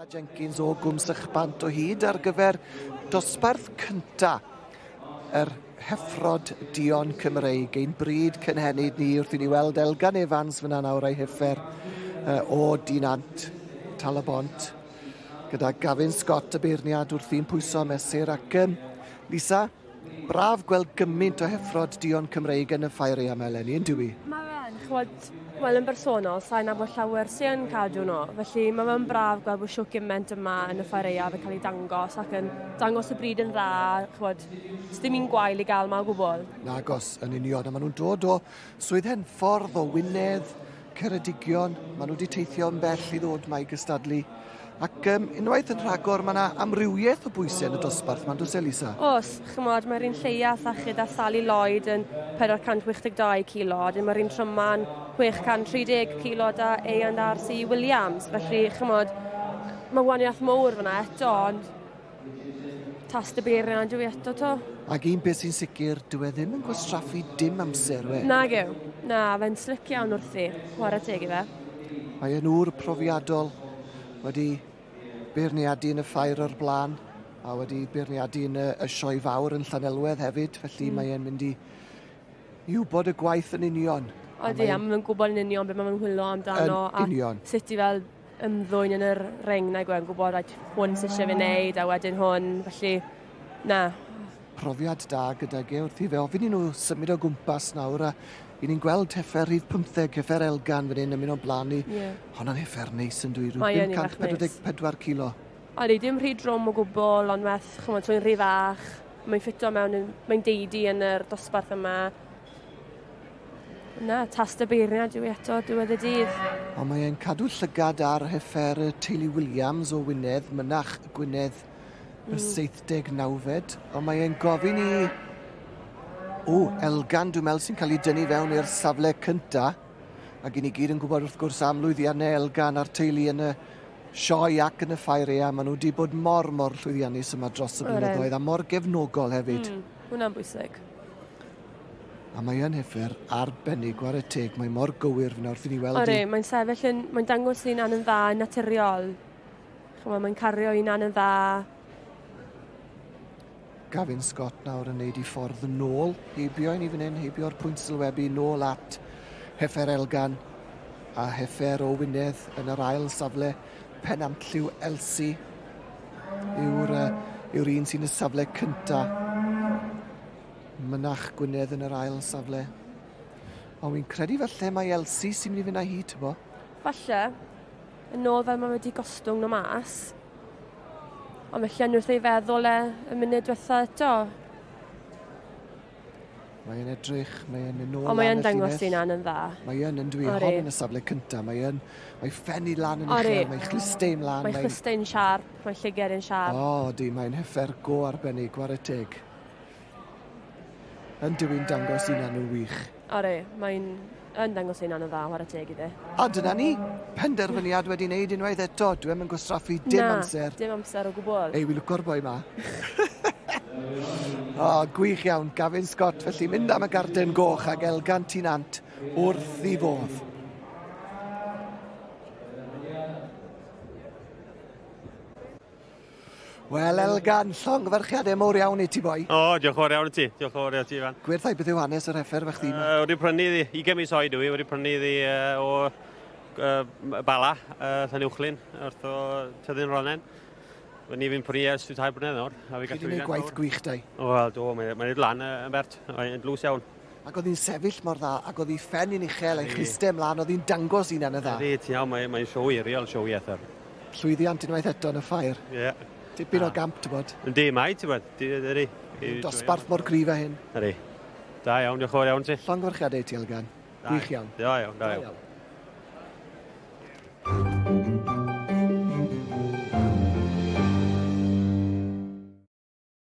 Sa Jenkins o Gwm Sychbant o hyd ar gyfer dosbarth cynta yr heffrod dion Cymreig. Ein bryd cynhenid ni wrth i ni weld Elgan Evans fyna nawr ei heffer uh, o Dinant Talabont gyda Gavin Scott y beirniad wrthi'n pwyso mesur ac um, Lisa, Braf gweld gymaint o heffrod duon Cymreig yn y ffair ei amau eleni, yn dywi? Mae fe'n, chwod, wel yn bersonol, sain nabod llawer sy'n cadw nhw, felly mae fe'n braf gweld bod siwc gymaint yma yn y ffair eiaf yn cael ei dangos ac yn dangos y bryd yn dda, chwod, sdim un gwael i gael yma o gwbl. Nagos, yn union, a maen nhw'n dod o Swydd Henffordd, o Wynedd, Ceredigion, maen nhw wedi teithio yn bell i ddod mae i gystadlu. Ac um, unwaith yn rhagor, mae yna amrywiaeth o bwysau yn y dosbarth, mae'n dwys Elisa? Os, chymod, mae'r un lleia sachyd a Sally Lloyd yn 462 kilo, a mae'r un tryma'n 630 kilo da ei and RC Williams. Felly, chymod, mae waniaeth mowr fyna eto, ond Tast y beiriau dwi eto to. Ac un beth sy'n sicr, dwi e ddim yn gwastraffu dim amser, we. Na gew. Na, fe'n slic iawn wrthi. Chwarae teg i fe. Mae e'n ŵr profiadol wedi beirniadu yn y ffair o'r blaen a wedi beirniadu yn y, y sioe fawr yn Llanelwedd hefyd, felly mm. mae e'n mynd i i wybod y gwaith yn union. Odi, a mae'n gwybod yn union beth mae'n hwylo amdano. Yn union. A sut i fel ymddwyn yn yr ring nag yw e'n gwybod like, hwn sy'n eisiau fi wneud a wedyn hwn, felly na. Profiad da gyda ge wrth i fe ofyn i nhw symud o gwmpas nawr a i ni'n gweld heffer rhif 15, heffer Elgan fan hyn yn mynd o'n blaen i. Yeah. Honna'n heffer neis yn dwi, rhyw 544 kilo. Odi, dim rhy drwm o gwbl, ond meth, chymod, trwy'n rhy fach. Mae'n ffito mewn, mae'n deidi yn yr dosbarth yma. Na, tast y beirniad yw eto diwedd y dydd. Ond mae e'n cadw llygad ar heffer y teulu Williams o Wynedd, mynach Gwynedd y mm. 79fed, ond mae e'n gofyn i... O, Elgan, dwi'n meddwl sy'n cael ei dynnu fewn i'r safle cynta. Ac i ni gyd yn gwybod wrth gwrs am lwyddiannau Elgan a'r teulu yn y sioe ac yn y ffair ea. Maen nhw wedi bod mor, mor llwyddiannus yma dros y blynyddoedd a mor gefnogol hefyd. Mm, hwnna'n bwysig. A mae yn hyfer arbennig, ware teg, mae mor gywir fyna wrth i ni weld Ore, mae'n sefyll yn, mae'n dangos un an yn dda yn naturiol. Chymod, mae'n cario un an yn dda. Gavin Scott nawr yn neud i ffordd yn ôl, heibio i ni fan hyn, heibio'r pwynt sylwebu, nôl at Hefer Elgan a Hefer o Wynedd yn yr ail safle, pen amlliw Elsi yw'r uh, yw'r un sy'n y safle cyntaf. Mynach Gwynedd yn yr ail safle. Ond fi'n credu falle mae Elsie sy'n mynd i fynd â hi, tybo. Falle. Yn ôl fel mae wedi gostwng nhw mas. Ond mae Llyn wrth ei feddwl e y munud diwetha eto. Mae e'n edrych, mae e'n mynd nôl Ond mae e'n dangos sy'n an yn dda. Mae e'n yn dwi hon yn y safle cyntaf. Mae e'n, mae ffenni lan yn uchel, mae chlustei'n lan. Mae chlustei'n siarp, mae lliger yn siarp. O, oh, di, mae'n hyfer go arbennig, gwar y teg. Yn dyw i'n dangos un annwyl wych. Are, mae'n yn dangos ei hunan yn dda, whare teg idde. A dyna ni! Penderfyniad wedi neud unwaith eto, dw i'm yn gwastraffu dim Na, amser. dim amser o gwbl. Ei, wi lwco'r boi ma. O, gwych iawn, Gavin Scott, felly mynd am y garden goch ag elgan ti'n ant wrth i fodd. Wel, Elgan, llongyfarchiadau mowr iawn i ti, boi. O, diolch yn fawr iawn i ti. Diolch yn fawr iawn i ti, Ifan. Gwerthau beth yw hanes yr heffer fe chdi? Uh, wedi prynu iddi, 20 mis oed yw i, wedi prynu iddi uh, o uh, Bala, uh, Llanuwchlyn, wrth o Tyddyn Ronen. Fe ni fi'n prynu ers tair blynedd nawr. Chi wedi gwneud gwaith gwych, dau? O, wel, do, mae'n mae lan yn bert, mae'n dlws iawn. Ac oedd hi'n sefyll mor dda, ac oedd ei phen yn uchel a'i chluste ymlaen, oedd hi'n dangos ei hunan yn dda. Ydy, ti'n iawn, mae, mae'n sioe hiriol, sioe Ether. Llwyddiant unwaith eto yn y ffair. Ie. Yeah. Tipyn o gamp, ti'n bod. Ydy, mae, ti'n bod. Ydy. Dosbarth mor gryf a hyn. Ydy. Da iawn, diolch yn fawr iawn ti. Llongyfarchiadau i ti, Elgan. Gwych iawn. Da iawn, da iawn. Da iawn.